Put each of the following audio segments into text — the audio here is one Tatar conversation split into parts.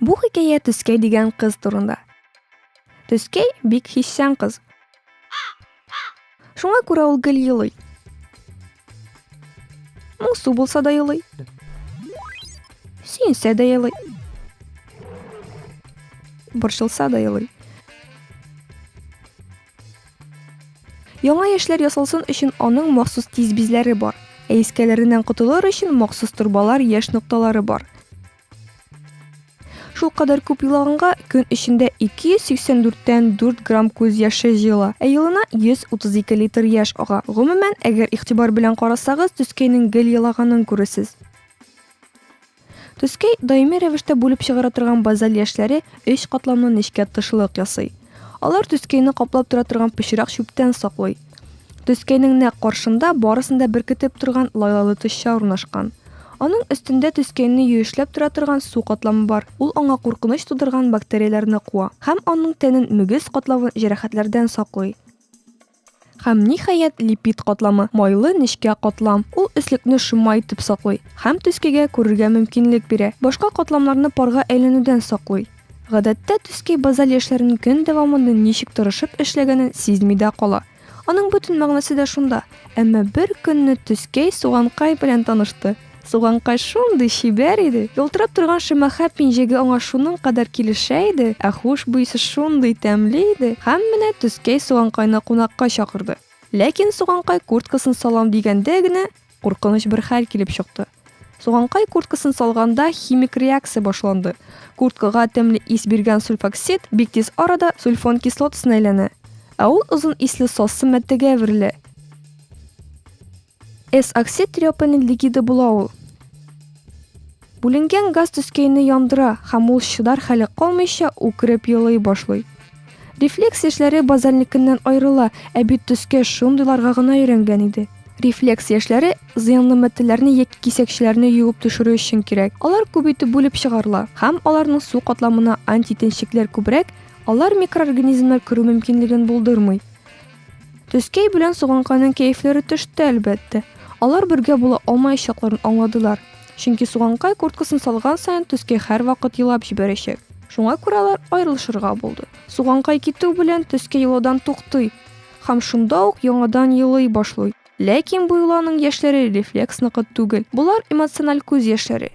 Бу хикәя Төскәй дигән кыз турында. Төскәй бик хиссан кыз. Шуңа күрә ул гел елый. Моңсу булса да елый. Сөенсә дә елый. Борчылса да елый. Яңа яшьләр ясалсын өчен аның махсус тиз бизләре бар. Ә искәләреннән котылыр өчен махсус торбалар, яшь нокталары бар. Шул кадәр күп елаганга көн эчендә 284 тән 4 грамм күз яше җыела, ә елына 132 литр яшь ага. Гомумән, әгәр игътибар белән карасагыз, төскәйнең гел елаганын күрерсез. Төскәй, даими рәвештә бүлеп чыгара торган базаль яшьләре өч катламлы нечкә тышлык ясый. Алар төскәйне каплап тора торган пычрак чүптән саклый. Төскәйнең нәкъ каршында барысын да беркетеп торган лайлалы тышча урнашкан. Аның өстендә төскәйне юешләп тора торган су катламы бар, ул аңа куркыныч тудырган бактерияләрне куа һәм аның тәнен мөгез катлавы җәрәхәтләрдән саклый. Һәм, ниһаять, липид катламы, майлы нечкә катлам. Ул өслекне шома итеп саклый һәм төскегә күрергә мөмкинлек бирә, башка катламнарны парга әйләнүдән саклый. Гадәттә, төскей базаль яшьләрнең көн дәвамында ничек тырышып эшләгәнен сизми дә кала. Аның бөтен мәгънәсе дә шунда. Әмма бер көнне төскей суганкай белән танышты. Суганкай шундый чибәр иде, ялтырап торган шимәхә пинжеге аңа шуның кадәр килешә иде, ә хуш буесе шундый тәмле иде, һәм менә Төскәй Суганкайны кунакка чакырды. Ләкин Суганкай курткасын салам дигәндә генә, куркыныч бер хәл килеп чыкты. Суганкай курткасын салганда химик реакция башланды. Курткага тәмле ис биргән сульфоксид бик тиз арада сульфон кислотасына әйләнә, ә ул озын исле сассы матдәгә әверелә. Эс оксид трёпанин лигиды була ул. Бүленгән газ төскәйне яндыра һәм ул чыдар хәле калмыйча үкереп елый башлый. Рефлекс яшьләре базальникыннан аерыла, ә бит төскә шундыйларга гына өйрәнгән иде. Рефлекс яшьләре зыянлы матдәләрне яки кисәкчеләрне юып төшерү өчен кирәк. Алар күп итеп бүлеп чыгарыла һәм аларның су катламына антитенчекләр күбрәк, алар микроорганизмнар керү мөмкинлеген булдырмый. Төскәй белән Суганкайның кәефләре төште, әлбәттә. Алар бергә була алмаячакларын аңладылар. Чөнки Суганкай курткасын салган саен Төскәй һәрвакыт елап җибәрәчәк. Шуңа күрә алар аерылышырга булды. Суганкай китү белән Төскәй елаудан туктый һәм шунда ук яңадан елый башлый. Ләкин бу юлы аның яшьләре рефлекс ныкыт түгел. Болар эмоциональ күз яшьләре.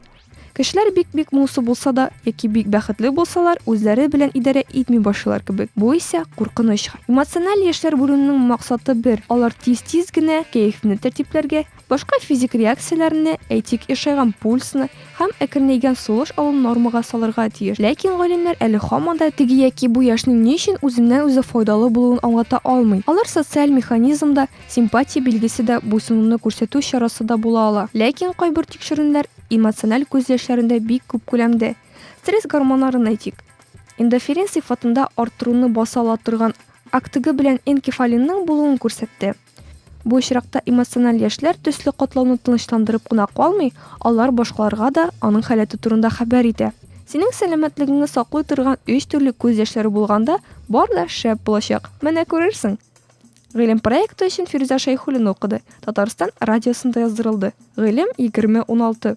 Кешеләр бик-бик моңсу булса да, яки бик бәхетле булсалар, үзләре белән идарә итми башлыйлар кебек. Бу исә куркыныч хәл. Эмоциональ яшьләр бүленүнең максаты бер, алар тиз-тиз генә кәефне тәртипләргә, башка физик реакцияләрне, әйтик, ешайган пульсны һәм әкренәйгән сулыш алуны нормага салырга тиеш. Ләкин галимнәр әле һаман да теге яки бу яшьнең ни өчен үзеннән-үзе файдалы булуын аңлата алмый. Алар социаль механизмда Симпатия билгесе дә, буйсынуны күрсәтү чарасы да була ала. Ләкин кайбер тикшеренүләр эмоциональ күз яшьләрендә бик күп күләмдә. Стресс гормоннарын әйтик. Эндоферин сыйфатында арттыруны баса ала торган актыгы белән энкефалинның булуын күрсәтте. Бу очракта эмоциональ яшьләр төсле катлауны тынычландырып кына калмый, алар башкаларга да аның халәте турында хәбәр итә. Синең сәламәтлегеңне саклый торган өч төрле күз яшьләре булганда, бар да шәп булачак. Менә күрерсең. Гыйлем проекты өчен Фирүзә Шәйхуллина укыды, Татарстан радиосында яздырылды. Гыйлем 2016.